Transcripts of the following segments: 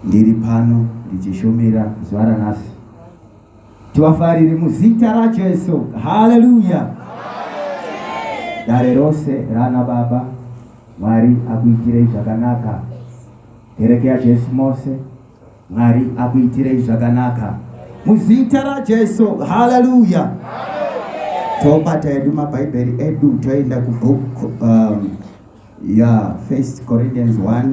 Ndiri pano ndichishumira zuva ranhasi. Tivafariri muzita raJesu. Haleluya. Dare rose rana baba Mwari akuitirei zvakanaka. Kereke yaJesu mose Mwari akuitirei zvakanaka. Muzita raJesu. Haleluya. Tobata edu mabhaibheri edu toenda kubook um, ya yeah, First Corinthians 1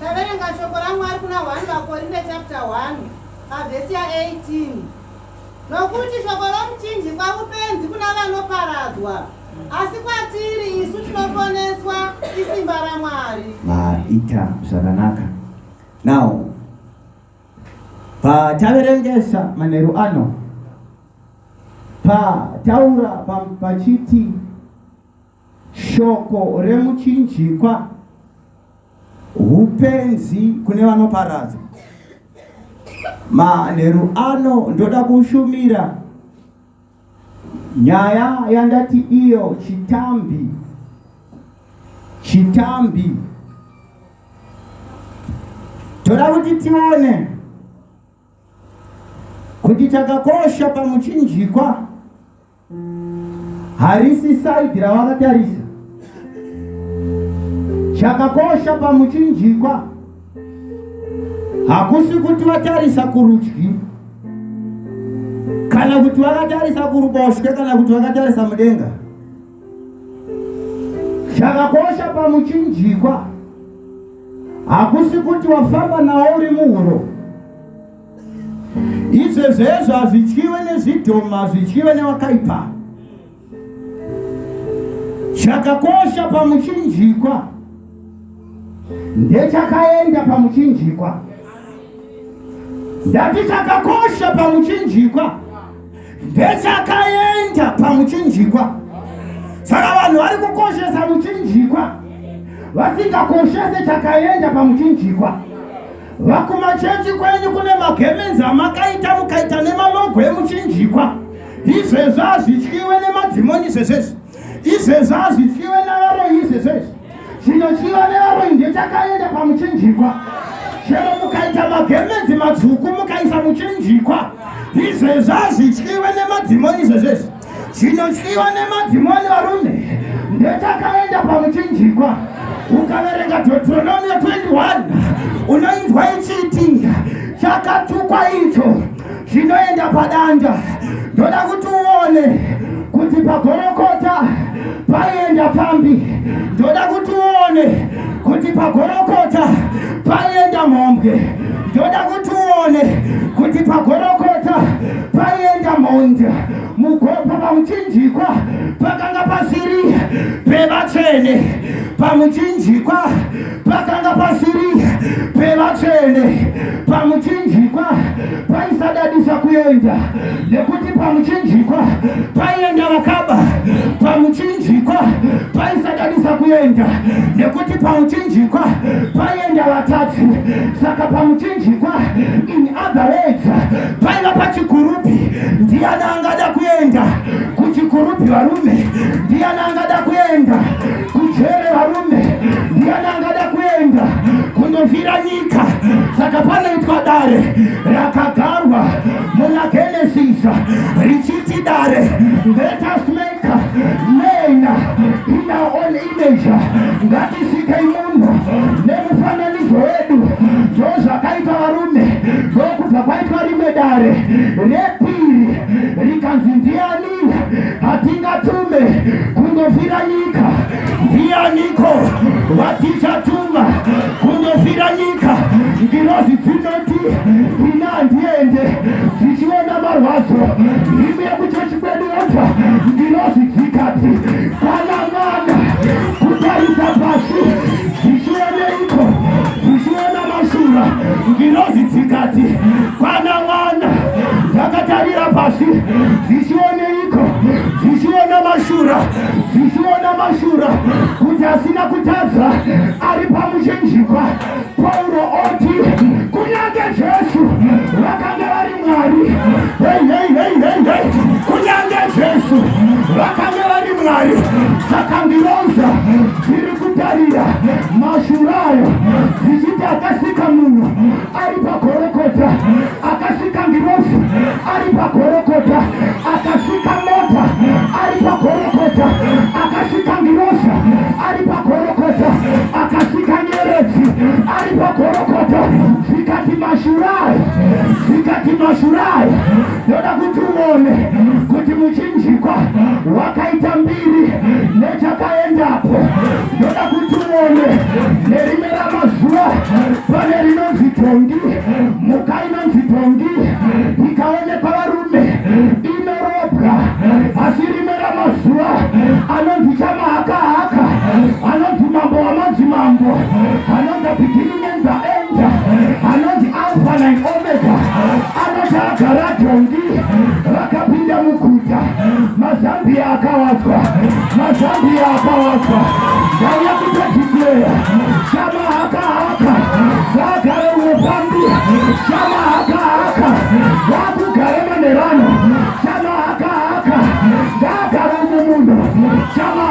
Taverenga shoko raMwari kuna 1 vaKorinde chapter 1 pavhesi ya18 nokuti shoko romuchinjikwa upenzi kuna vanoparadzwa asi kwatiri isu tinoponeswa isimba ramwari maita zvakanaka now pataverengesa manheru ano pataura pachiti pa Shoko remuchinjikwa hupenzi kune vanoparadza. Manheru ano ndoda kushumira nyaya yandati iyo chitambi chitambi toda kuti tione kuti chakakosha pamuchinjikwa harisi saidi ravakatarisa chakakosha pamuchinjikwa hakusi kuti vatarisa kurudyi kana kuti vakatarisa kuruboshwe kana kuti vakatarisa mudenga chakakosha pamuchinjikwa hakusi kuti wafamba nawo uri muhuro izvezvezvo hazvityiwe nezvidhoma hazvityiwe nevakaipa chakakosha pamuchinjikwa ndechakaenda pamuchinjikwa ndati chakakosha pamuchinjikwa ndechakaenda pamuchinjikwa saka vanhu vari kukoshesa muchinjikwa vasingakoshese chakaenda pamuchinjikwa vakumachechi kwenyu kune magemenzi amakaita mukaita nemalogo emuchinjikwa izvezvo hazvityiwe nemadhimoni zvezvezvi izvezvi hazvityiwe navaroyi izvezvezvi chinotyiwa nevaroyi ndechakaenda pamuchinjikwa chero mukaita magemenzi matsvuku mukaisa muchinjikwa izvezvi hazvityiwe nemadzimoni izvezvezvi chinotyiwa nemadzimoni varume ndechakaenda pamuchinjikwa ukaverenga deuteronomio 21 unoinzwa ichiti chakatukwa icho zvinoenda padanda ndoda kuti uone kuti pagorokota paienda pambi ndoda kuti uone kuti pagorokota paienda mhombwe ndoda kuti uone kuti pagorokota paienda mhondi mugopa pamuchinjikwa pakanga pasiri pevatsvene pamuchinjikwa pakanga pasiri pevatsvene pamuchinjikwa paisadadisa kuenda nekuti pamuchinjikwa paienda vakaba pamuchinjikwa paisadadisa kuenda nekuti pamuchinjikwa paienda vatatu saka pamuchinjikwa in other words paiva pachikurupi ndiana angada kuenda kuchikurupi varume ndiana angada kuenda kujere varume ndiani angada kuenda kundovira nyika saka panoitwa dare rakagarwa muna genesis richiti dare ndetasmeka mena ina on image ngatisikei munhu nemufananidzo wedu ndo zvakaita varume ndokubva kwaitwa rimwe dare repiri rikanzi ndiani hatingatume kundovhira nyika ndiyaniko watichatuma kundovhira nyika ngirozi dzinoti ina handiende dzichiona marwadzo imi yekuchechi kwedu yobva ngirozi dzikati kana mwana kutarisa pasi dzichioneiko dzichiona Mashura ngirozi dzikati kwana mwana dzakatarira pasi dzichioneiko dzichiona mashura dzichiona mashura kuti asina kutadza ari pamuchinjikwa pauro oti kunyange jesu vakanga vari mwari kunyange jesu vakanga vari mwari saka ngiroza dziri kutarira mashura ayo zvichiti akasika munhu ari pagorokota akasika ngirosi ari pagorokota akasika mota ari pagorokota akasika ngirosi ari pagorokota akasika nyeredzi ari pagorokota zvikati mashura ayo zvikati mashura ayo Ndoda kuti uone kuti muchinjikwa wakaita mbiri nechakaendapo. Ndoda kuti uone nerimwe ramazuva pane rinonzi dhongi, mhuka inonzi dhongi ikaonekwa varume inorobwa, asi rimwe ramazuva anonzi chamahakahaka, anonzi mambo wamadzimambo, anonzi bhigini anonzi alfa nine omega anoti agara dhongi vakapinda muguta mazambiya akawadzwa mazambiya akawadzwa ndauya kutodikleya shama haka haka vaagare unofambi shama haka haka vaakugare manerano shama haka haka ngaagare uno munhu shama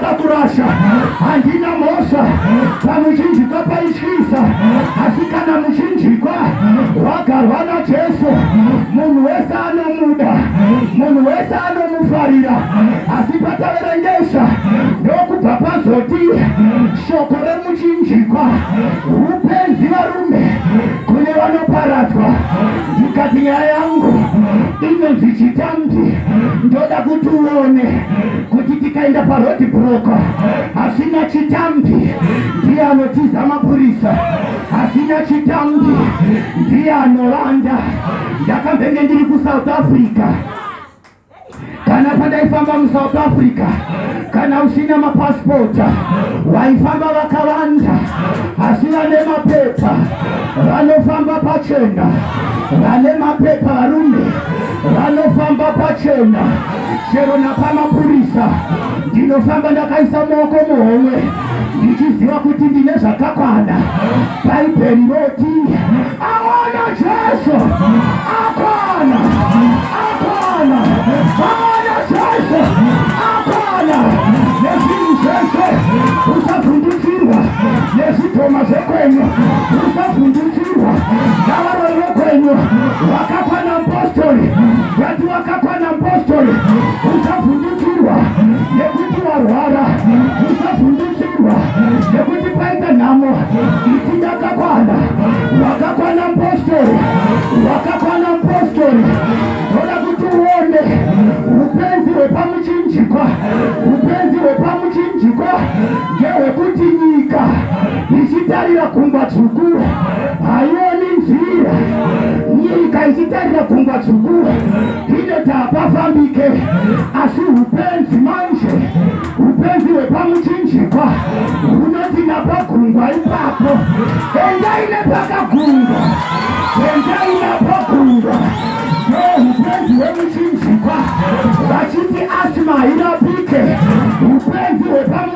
kakurasha handina mhosva kamuchinjikwa paityisa asi kana muchinjikwa wagarwa najesu munhu wese anomuda munhu wese anomufarira asi pataverengesa ndokubva pazoti shoko remuchinjikwa upenzi varume kune vanoparadzwa ndikati nyaya yangu inonzi chitambi ndoda kuti uone kuti tikaenda parodi broko hasina chitambi ndiye anotiza mapurisa hasina chitambi ndiye anovanda ndakambenge ndiri kusouth africa kana pandaifamba musouth africa kana usina mapasipota waifamba vakavanda asi vane mapepa vanofamba pachena vane mapepa varume vanofamba pachena chero napamapurisa ndinofamba ndakaisa maoko muhomwe ndichiziva kuti ndine zvakakwana bhaibheri roti aona jesu akwana akwana aona jesu akwana nezvinhu zvese usavhundutsirwa nezvidhoma zvekwenyu usavhundutsirwa navaroi vekwenyu vakakwana mupostori Wakakwana apostle usavhundukirwa nekuti warwara usavhundukirwa nekuti paita nhamo iti ndakakwana wakakwana apostle wakakwana apostle toda kuti uone upenzi hwepamuchinjikwa upenzi hwepamuchinjikwa ngehwekuti nyika ichitarira gungwa dzvuku haioni nzira nyika ichitarira gungwa dzvuku inoti hapafambike asi upenzi manje upenzi hwepamuchinjikwa hunoti napagungwa ipapo endai nepakagungwa endai napagungwa upenzi hwemuchinjikwa vachiti asima hairapike upenzi hwepamu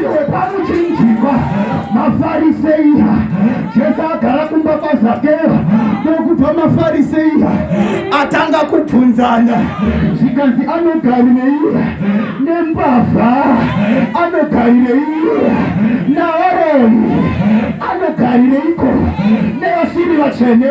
Iwe pamuchinjikwa mafariseiya Jesu agara kumba kwaZakeo nokubva mafariseiya atanga kubvunzana zvikanzi anogarireiya nembavha anogarireiya naaroni anogarireiko nevasiri vatsvene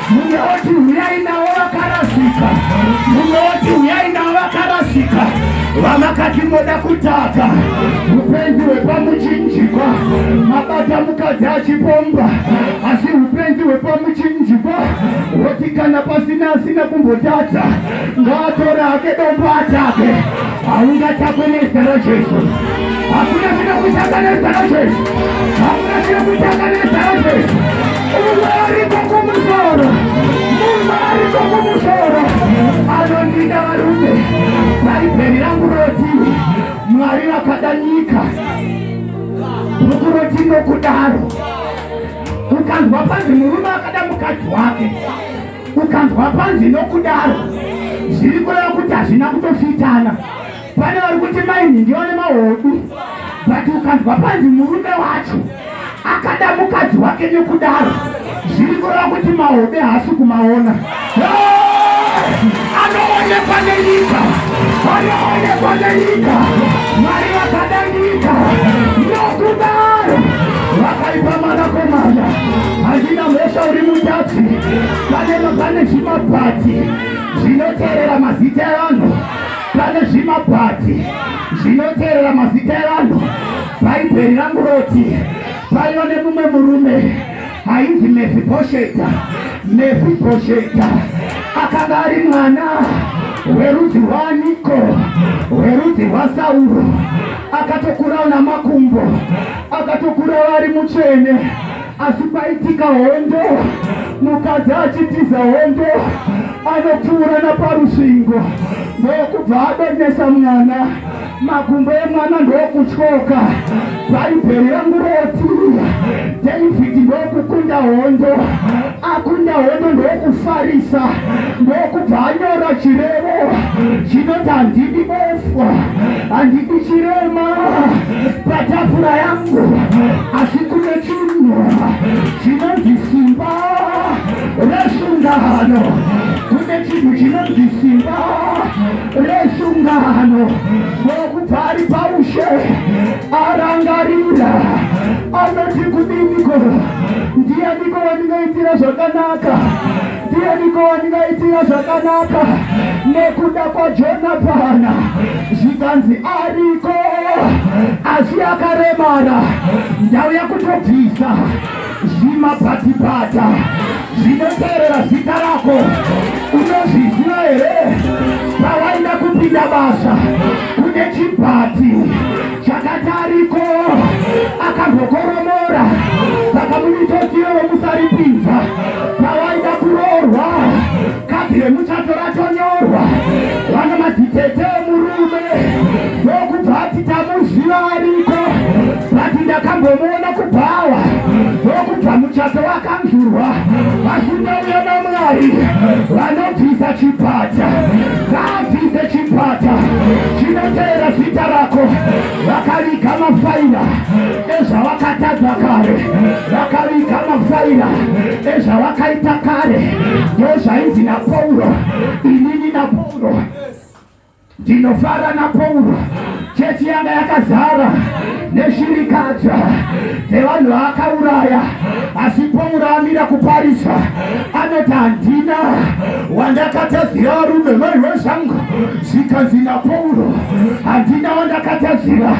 mumwe woti huyai navo vakarasika mumwe woti huyai navo vakarasika vamakati moda kutaka upenzi hwepamuchinjikwa mabata mukadzi achipomba asi upenzi hwepamuchinjikwa hoti kana pasina asina kumbotadza ngaatore ake dombo atake haungatakwe nezita rajesu hakuna chinokutanga nezita rajesu hakuna chinokutanga nezita rajesu unoarikwa kumusoro unoarikwa kumusoro anondida varume bhaibheri rangu roti mwari vakada nyika bhuku roti nokudaro ukanzwa panzi murume akada mukadzi wake ukanzwa panzi nokudaro zviri kureva kuti hazvina kutofitana pane vari kuti mainhi ndiyo ne mahodu but ukanzwa panzi murume wacho akada mukadzi wake nekudaro zviri kureva kuti mahodu haasi kumaona anoonekwa nenyika anoonekwa nenyika mari vakadangika nokudaro vakaipa mwanakomana hazvina mhosva uri mutadzi panema pane zvimabhati zvinoteerera mazita evanhu pane zvimabhati zvinoteerera mazita evanhu bhaibheri ranguroti paiva nemumwe murume ainzi mefibhosheta mefibhosheta akanga ari mwana werudzi rwaaniko werudzi rwasauro akatokurawo namakumbo akatokurawo ari mutsvene asi paitika hondo mukadzi achitiza hondo anopfuura naparusvingo ndokubva adonesa mwana makumbo emwana ndokutyoka bhaibheri rangu roti david ndokukunda hondo akunda hondo ndokufarisa ndokubva anyora chirevo chinoti handidi bofu handidi chirema patafura yangu asi kune chinhu chinonzi simba resungano kune chinhu chinonzi simba resungano ndokubva ari paushe arangarira anoti kudiniko ndiyaniko wandingaitira zvakanaka ndiyaniko wandingaitira zvakanaka nekuda kwajonatana zvikanzi ariko asi akaremara ndauya kutobvisa zvimabhatibhata zvinoteerera zita rako unozviziva here pawaida kupinda basa kune chibhati chakati ariko akambokoromora saka muitotiro wemusaripinza pawaida kuroorwa kadhi remuchato ratonyorwa vana madzitete emurume ndokubva ati tamuziva ariko vati ndakambomuona kubhawa ndokubva muchato wakanzurwa vasindauya namwari vanobvisa chipata ngaabvise chipata chinoteera zita rako vakaviga mafaira ezvavakatadza kare vakaviga mafaira ezvavakaita kare ndozvainzi napauro inini napauro ndinofara napauro chechi yanga yakazara neshirikadza dzevanhu vaakauraya asi pauro amira kuparisa anoti handina wandakatadzira varume maiwe zvangu zvikanzi napauro handina wandakatadzira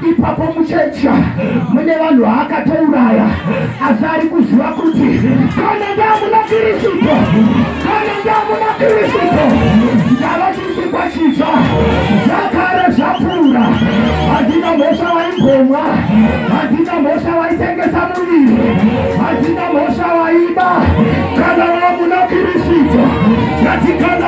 ipapo muchecha mune vanhu vaakatouraya asi ari kuziva kuti kana ndamuna kirisito kana ndamuna kirisito ndava chisikwa chitsva zvakare zvapfuura handina mhosva vaimbomwa handina mhosva vaitengesa muviri handina mhosva vaiba kana vamuna kirisito ngatikana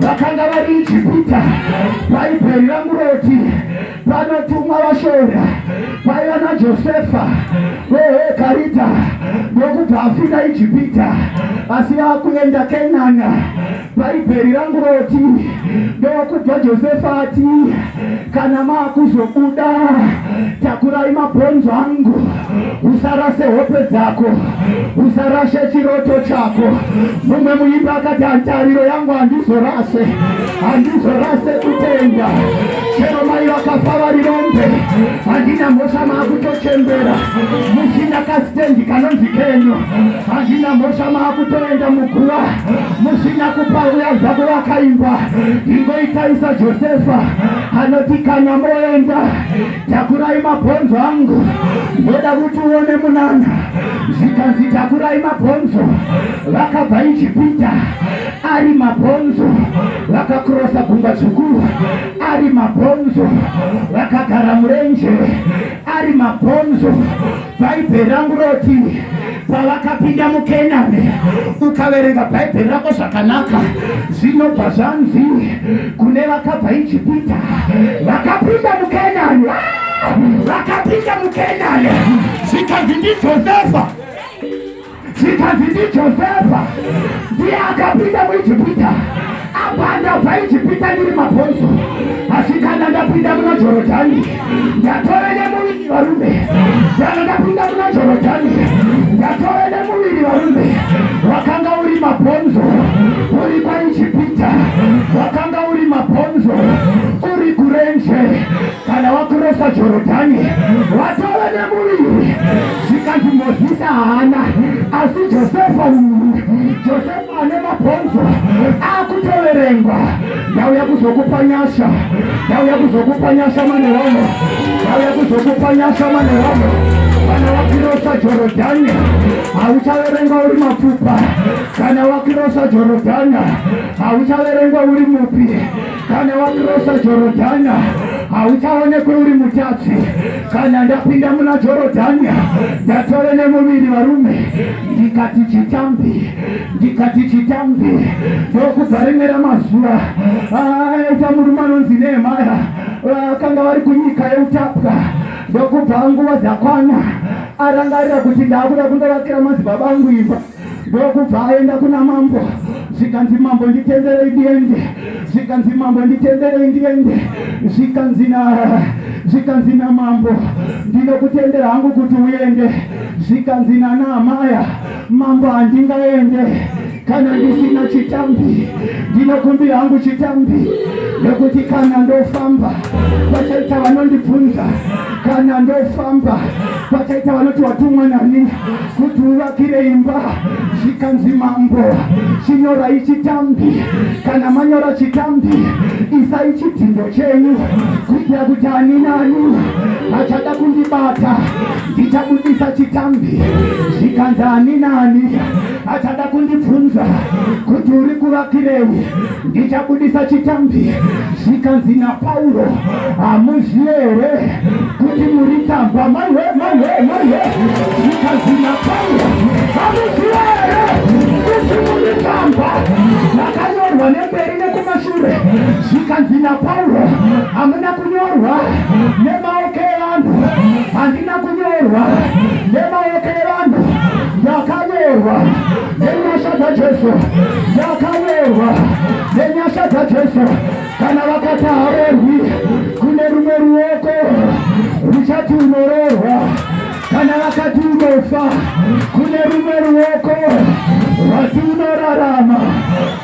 vakanga vari ijipita bhaibheri rangu roti panotumwa vashora vaiva najosefa vehekarita ndokubva afira ijipita asi vakuenda kenana bhaibheri rangu roti ndokubva josefa ati kana maakuzobuda takurai mabhonzo angu usarase hope dzako usarashe chiroto chako mumwe muimbi akati hantariro yangu handizorase handizorase kutenda chero mai vakafa vari rombe handina mhosva maakutochembera musina kasitendi kanonzi kenyu handina mhosva maakutoenda muguva musina kupaura zvavo vakaimba ingoitaisa josefa anoti kana moenda takurai mabhonzo angu ndoda kuti uone munana zvikanzi takurai mabhonzo vakabva ijipita ari mabhonzo vakakurosa gungwa dzukuru ari mabhonzo vakagara murenje ari mabhonzo bhaibheri rangu roti pavakapinda mukenani ukaverenga bhaibheri rako zvakanaka zvinobva zvanzi kune vakabva ijipita vakapinda mukenani vakapinda mukenani zvikanzi ndijosefa zvikanzi ndijosefa ndiye akapinda muijipita apa ndabva ijipita ndiri mabhonzo asi kana ndapinda muna jorodhani ndatove nemuviri varume kana ndapinda muna jorodhani ndatove nemuviri varume wakanga uri mabhonzo uri kwaijipita wakanga uri mabhonzo uri kurenje kana wakurosa jorodhani watove nemuviri zvikanzi mozisi haana asi josefa josefa ane mabhonzo akutoverengwa ndauya kuzokupa nyasha ndauya kuzokupa nyasha maneromo ndauya kuzokupa nyasha maneromo kana wakirosa jorodhani hauchaverengwa uri mapfupa kana wakirosa jorodhani hauchaverengwa uri mupi Kana wakrosa Jorodhania hauchaonekwe uri mutatsi. Kana ndapinda muna Jorodhania ndatove nemuviri varume, ndikati chitambi, ndikati chitambi, ndokubva rimwe ramazuva aita ah, murume anonzi Nehemaya vakanga ah, vari kunyika yeutapwa, ndokubva nguva dzakwana arangarira kuti ndakuda kundovakira madzibaba angu imba ndokubva aenda kuna mambo zvikanzi mambo nditenderei ndiende zvikanzi mambo nditenderei ndiende zvikanzi na zvikanzi namambo ndinokutendera hangu kuti uende zvikanzi nanaamaya mambo handingaende kana ndisina chitambi ndinokumbira hangu chitambi nekuti kana ndofamba kwachaita vanondibvunza kana ndofamba kwachaita vanoti watumwa nani kuti uvakire imba zvikanzi mambo chinyorai chitambi kana manyora chitambi isai chidhindo chenyu kuitira kuti ani nani achada kundibata ndichabudisa chitambi zvikanzi ani nani achada kundibvunza kuti uri kuvakirewi ndichabudisa chitambi zvikanzi napauro hamuzive here kuti muri tsamba maiwe maiwe maiwe zvikanzi napauro hamuzive here kuti muri tsamba makanyorwa nemberi nekumashure zvikanzi napauro hamuna kunyorwa nemaoko evanhu handina kunyorwa nemaoko evanhu ndakanyorwa nenyasha dzajesu yakaverwa nenyasha dzajesu kana vakati haverwi kune rumwe ruoko ruchati unororwa kana vakati unofa kune rumwe ruoko rwati unorarama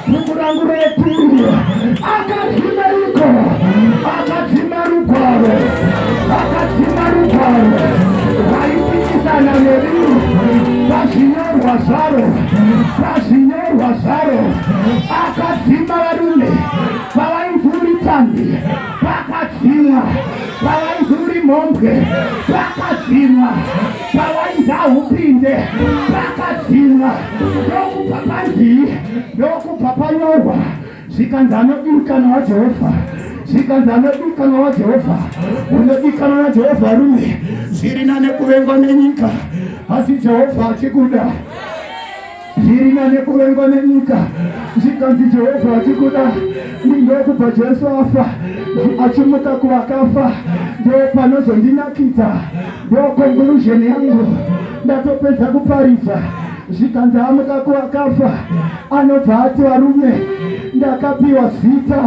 Dzungu rangu repi akadzima iko akadzima rugwaro akadzima rugwaro raipikisana nemi pazvinyorwa zvaro pazvinyorwa zvaro akadzima varume pavainzi uri tambi pakadzimwa pavainzi uri mhombwe pakadzimwa pawaida upinde pakadzimwa ndokubva panzii ndokubva panyorwa zvikanzi anodikanwa wajehovha zvikanzi anodikanwa wajehovha unodikanwa najehovha rume zviri nane kuvengwa nenyika asi jehovha achikuda Ndiri nane kuvengwa nenyika zvikanzi Jehovha vachikuda ndindokupa Jesu afa achimuka kuvakafa ndopanozondinakidza ndokonkulusheni yangu ndatopedza kuparidza zvikanzi amuka kuvakafa anobva ati varume ndakapiwa zita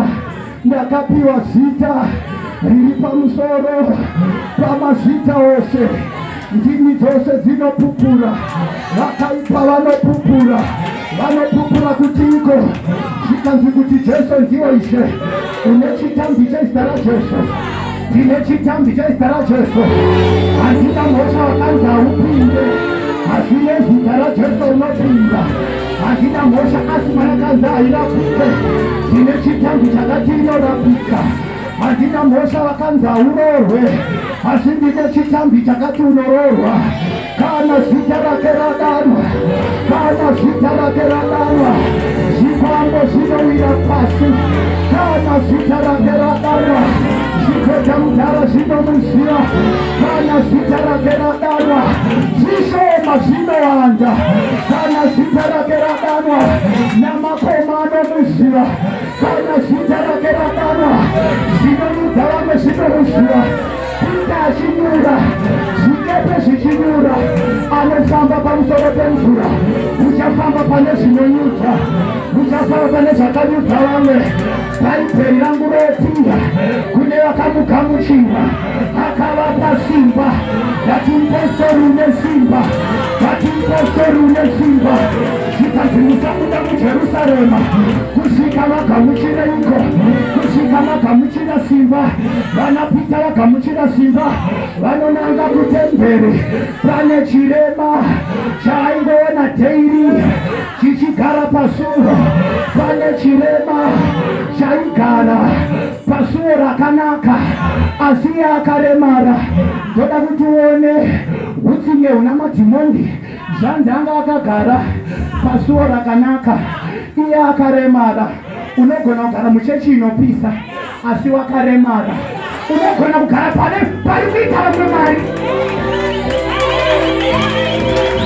Ndakapiwa zita riri pamusoro pamazita ose, ndimi dzose dzinopupura, vakaipa vanopupura, vanopupura kuti iko zvikanzi kuti Jesu ndiwo Ishe, une chitambi chezita raJesu ndine chitambi chezita raJesu, handina mhosva wakanzi haupinde, asi nezita raJesu unopinda. hazvina mhosva asi mwanakadzi hairapike tine chitambi chakati inorapika hazvina mhosva vakanzi haurorwe asi ndine chitambi chakati unororwa kana zita rake radanwa kana zita rake radanwa zvikwambo zvinowira pasi kana zita rake radanwa zvikota mudhara zvinomuziva kana zita rake radanwa zvishoma zvinowanda kana zita rake radanwa namakoma anomuziva kana zita rake radanwa zvinonudza vamwe zvinomuziva kuita achinyura zvikepe zvichinyura anofamba pamusoro pemvura uchafamba pane zvinonyudza uchafamba pane zvakanyudza vamwe bhaibheri rangu rotinda kune vakamugamuchira akavapa simba vati mupostori une simba vati mupostori une simba zvikanzi musabuda mujerusarema kusvika vagamuchira iko kusvika vagamuchira simba vanapita vagamuchira simba vanonanga kutemberi pane chirema chaaingoona dheiri chichigara pasuro pane chirema chaigara pasuwo rakanaka asi iye akaremara ndoda kuti uone utsinye huna madhimoni zvanzi anga akagara pasuwo rakanaka iye akaremara unogona kugara muchechi inopisa asi wakaremara unogona kugara pane pari kuita vamwe mari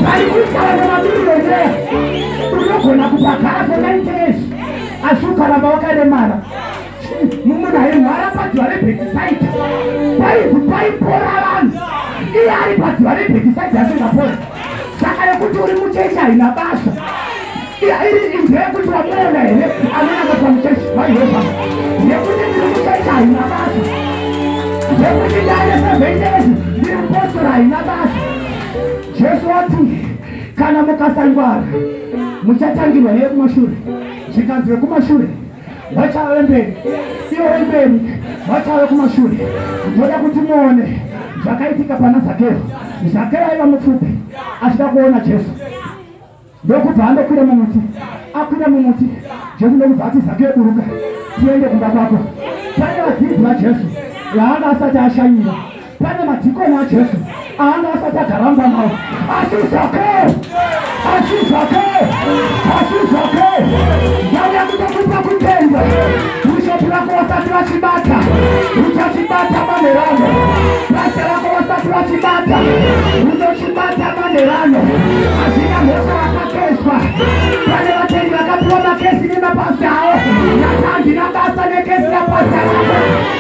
pari kuita vamwe mabiriyonea unogona kupagara kwenaitesi asi ukaramba wakaremara mumuna yemhara padziva rebhetisaita paizi paipora vanhu iye ari padziva rebhetisaita asingapora saka yekuti uri muchechi haina basa iri into yekuti wamuona here anonaka pamuchechi vaiheza yekuti ndiri muchechi haina basa yekuti ndaine sevendezi ndiri mupostora haina basa jesu wati kana mukasangwara muchatangirwa neyekumashure zvikanzi vekumashure vachave mberi ivo vemberi vachave kumashure ndoda kuti muone zvakaitika pana zakero zakero aiva mupfupi achida kuona jesu ndokubva andokwira mumuti akwira mumuti jesu ndokubva ati zakero buruka tiende kumba kwako pane vadzidzi vajesu yaanga asati ashanyira pane madhikoni ajesu aanga asati agaramba nao asi zvake asi zvake asi zvake ndauya kutokupa kutenda bhishopi rako vasati vachibata uchachibata manerano basa rako vasati vachibata unochibata manerano hazvina mhosva vakakeswa pane vatendi vakapiwa makesi nemapasi avo nata handina basa nekesi yapasi aa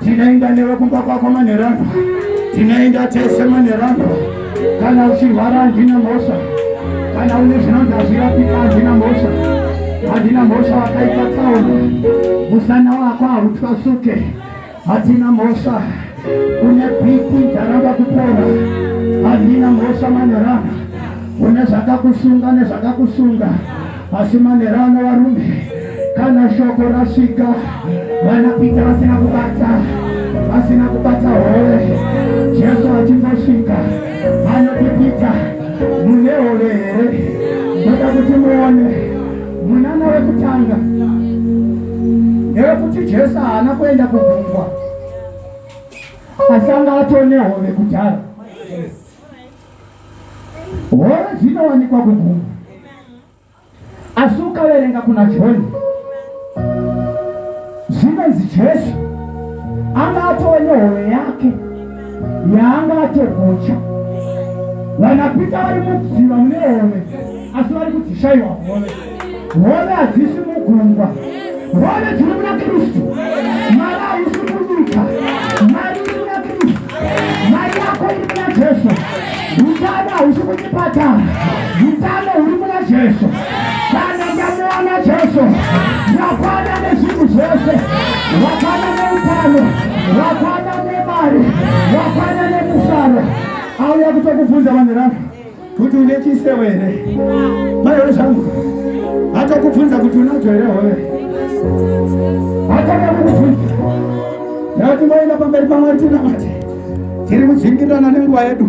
Tinoenda newe kumba kwako manherangu, tinoenda tese manherangu. Kana uchirwara handina mhosva, kana une zvinonzi hazvirapika handina mhosva, handina mhosva. Wakaita tsaona, musana wako hautwasuke, hatina mhosva. Une pipi dzaramba kupora, handina mhosva manherangu. Une zvakakusunga nezvakakusunga Asi manera ana varume kana shoko rasvika vanapita vasina kubata vasina kubata hove jesu achimbosvika anotipita mune hove here ndoda kuti muone munana wekutanga ndewekuti jesu haana kuenda kugungwa asanga atone hove kudhara Hove dzinowanikwa kugungwa, asi ukaverenga kuna Johani dzinonzi Jesu anga atova nehove yake yaanga atogocha. Vanapita vari mudziva mune hove, asi vari kudzishaiwa hove. Hove hadzisi mugungwa, hove dziri muna Kristu. Mari haisi munyika, mari iri muna Kristu. Mari yako iri muna Jesu. Utano hausi kuchipatara, utano huri muna Jesu. Kana ndamuona Jesu, ndakwana nezvinhu zvose, wakwana neutano, wakwana nemari, wakwana nemufaro. Auya kutokubvunza vanhu ravo kuti une chisewo here maiwe zvangu atokubvunza kuti unacho here hove atanga kukubvunza nekuti maenda pamberi pamwari tinamati tiri kudzingirirana nenguva yedu